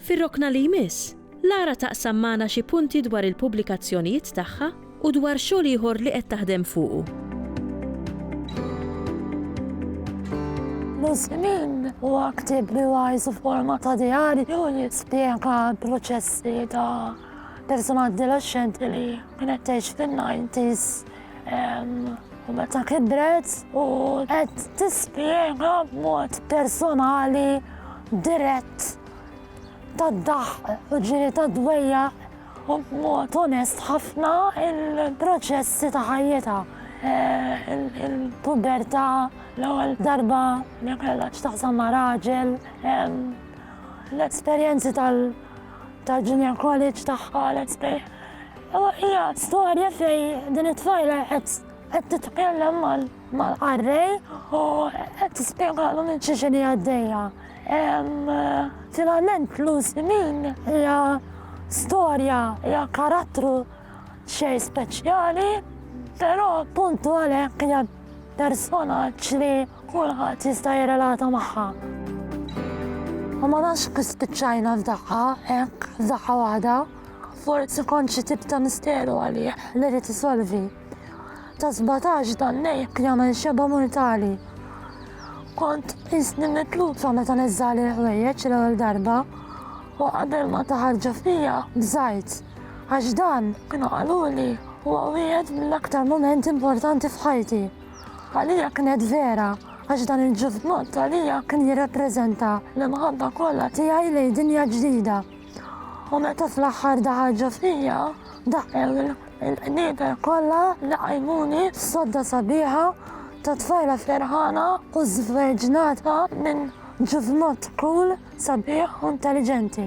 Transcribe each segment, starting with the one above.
Fir-rokna li jmiss, Lara taqsam magħna xi punti dwar il-pubblikazzjonijiet tagħha u dwar xogħol ieħor li qed taħdem fuqu. Miż-żmien huwa ktieb li huwa jisu forma ta' djari u jispjega l-proċessi ta' persuna adolescenti li kienet tgħix fin-90s u meta kibret u qed tispjega b'mod personali dirett tad-daħq u ġiri tad-dwejja u b'mod onest ħafna il-proċessi ta' ħajjita. Eh, il-puberta l-ewwel darba li kellha x'taħsam ma' raġel, l-esperjenzi tal- tal-Junior College tagħha let's say. U hija storja fej din it-tfajla qed titkellem mal-qarrej u qed tispjegalu minn xi xini għaddejja. Finalment Lucy Min hija storja, hija karattru xejn speċjali, però punt għalhekk hija personaġġ li kulħadd jista' jirrelata magħha. U ma nafx kif spiċċajna f'daqqa hekk f'daqqa waħda, forsi kont xi tip ta' misteru għalih li rid isolvi. Ta' 17 dan nejk jagħmel xeba mortali. Kont isni mitluta meta niżżali l-ħwejjeġ l-ewwel darba u qabel ma taħarġu fija bżajt għax dan kienu qaluli huwa wieħed mill-aktar mumenti importanti f'ħajti. Għalija kienet vera għax dan il-ġuvnut għalija kien jirrappreżenta l-imħabba kollha tiegħi lejn dinja ġdida. U meta fl-aħħar daħarġu fija daqqew il-qnieper kollha li qajmuni sodda sabiħa ta' tfajla ferħana u żverġnata minn ġuvnut kull Sabiħ u intelliġenti.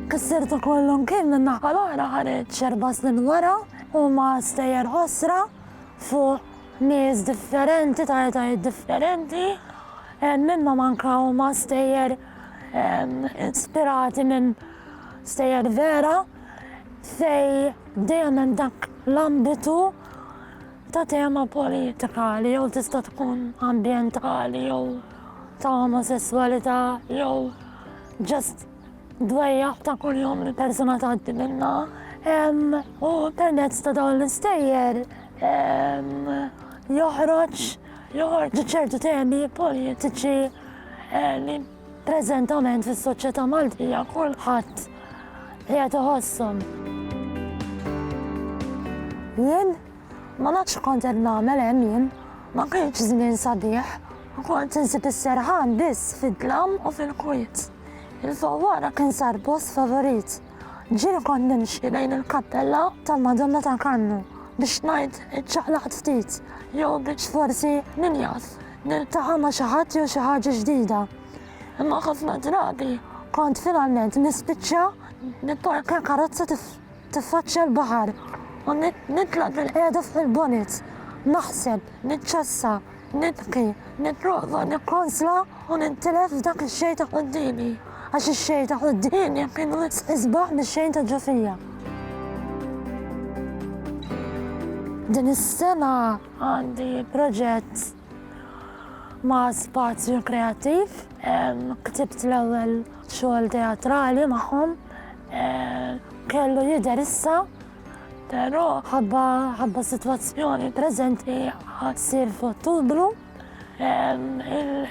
Kisser ta' kollu mkien min-naħa l-oħra ħareġ erba' snin wara u ma' stejjer ħosra fuq nies differenti ta' etajiet differenti mimma manka huma stejjer ispirati minn stejjer vera fej dejjem hemm dak l-ambitu ta' tema politikali jew tista' tkun ambjentali jew ta' omosesswalità jew just dwejjaq ta' kuljum li persuna tgħaddi minnha. U permezz ta' dawn l-istejjer joħroġ joħorġu ċertu temi politiċi li Preżentament fis-soċjetà Maltija kulħadd qiegħed iħosshom. Jien ma nafx x'kont qed nagħmel hemm jien, ma kienx żmien sabiħ, kont insib is-serħan biss fid-dlam u fil-kwiet. Il-fawwara kien sar post favorit. Ġieli kont nimxi lejn il-kappella tal-Madonna ta' Kannu biex ngħid iċċaqlaqt ftit jew biex forsi min jaf. Niltaqa' ma' xi ħadd jew xi ħaġa ġdida. Imma ħafna drabi kont finalment nispiċċa nipparkja karozza tiffaċċja l-baħar u nitla' bil-qiegħda fuq il-bonnet, naħseb, niċċassa, nibki, nipprova nikkonsla u nintilef f'dak ix-xejn ta' quddiemi, għax ix-xejn ta' quddiemi kien wisq isbaħ mix-xejn ta' ġo fija. Din is-sena Għandi proġett ma' Spazju Kreattiv. Ktibt l-ewwel xogħol teatrali magħhom. Kellu jidher issa, però ħabba ħabba sitwazzjoni preżenti għad ssir f'Ottubru.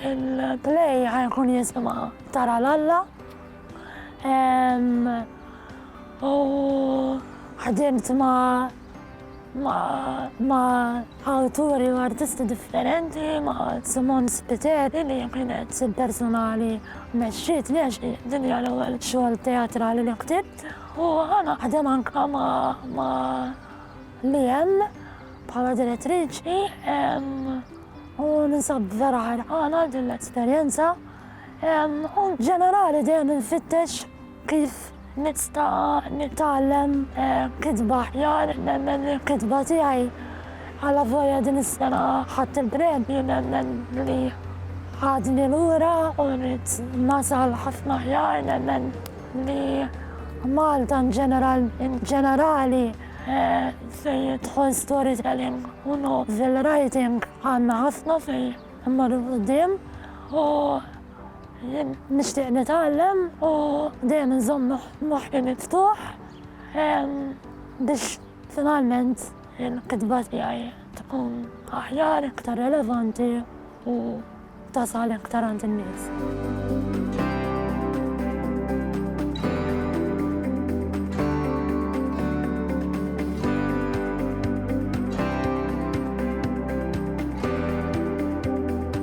Il-play ħa jkun jisimha Tara l-Alla. U ħdimt ma' ma' awturi u artisti differenti, ma' Simone Spiteri li kienet il-personali mexxiet li għax din hija l-ewwel xogħol teatrali li ktibt u naħdem anke ma' Liam bħala direttriċi u ninsab vera ħerqana għal din l-esperjenza u ġenerali dejjem infittex Kif nista' nitgħallem kitba aħjar? Nemmen li l-kitba tiegħi, alavolja din is-sena ħadt il-premju, nemmen li għadni lura u rrid nasal ħafna aħjar. Nemmen li Malta inġenerali fejn jidħol storytelling u novel writing għandna ħafna fejn immorru 'l quddiem. Nixtieq nitgħallem u dejjem inżomm moħħi miftuħ biex finalment il-kitba tiegħi tkun aħjar, iktar relevanti u tasal iktar għand in-nies.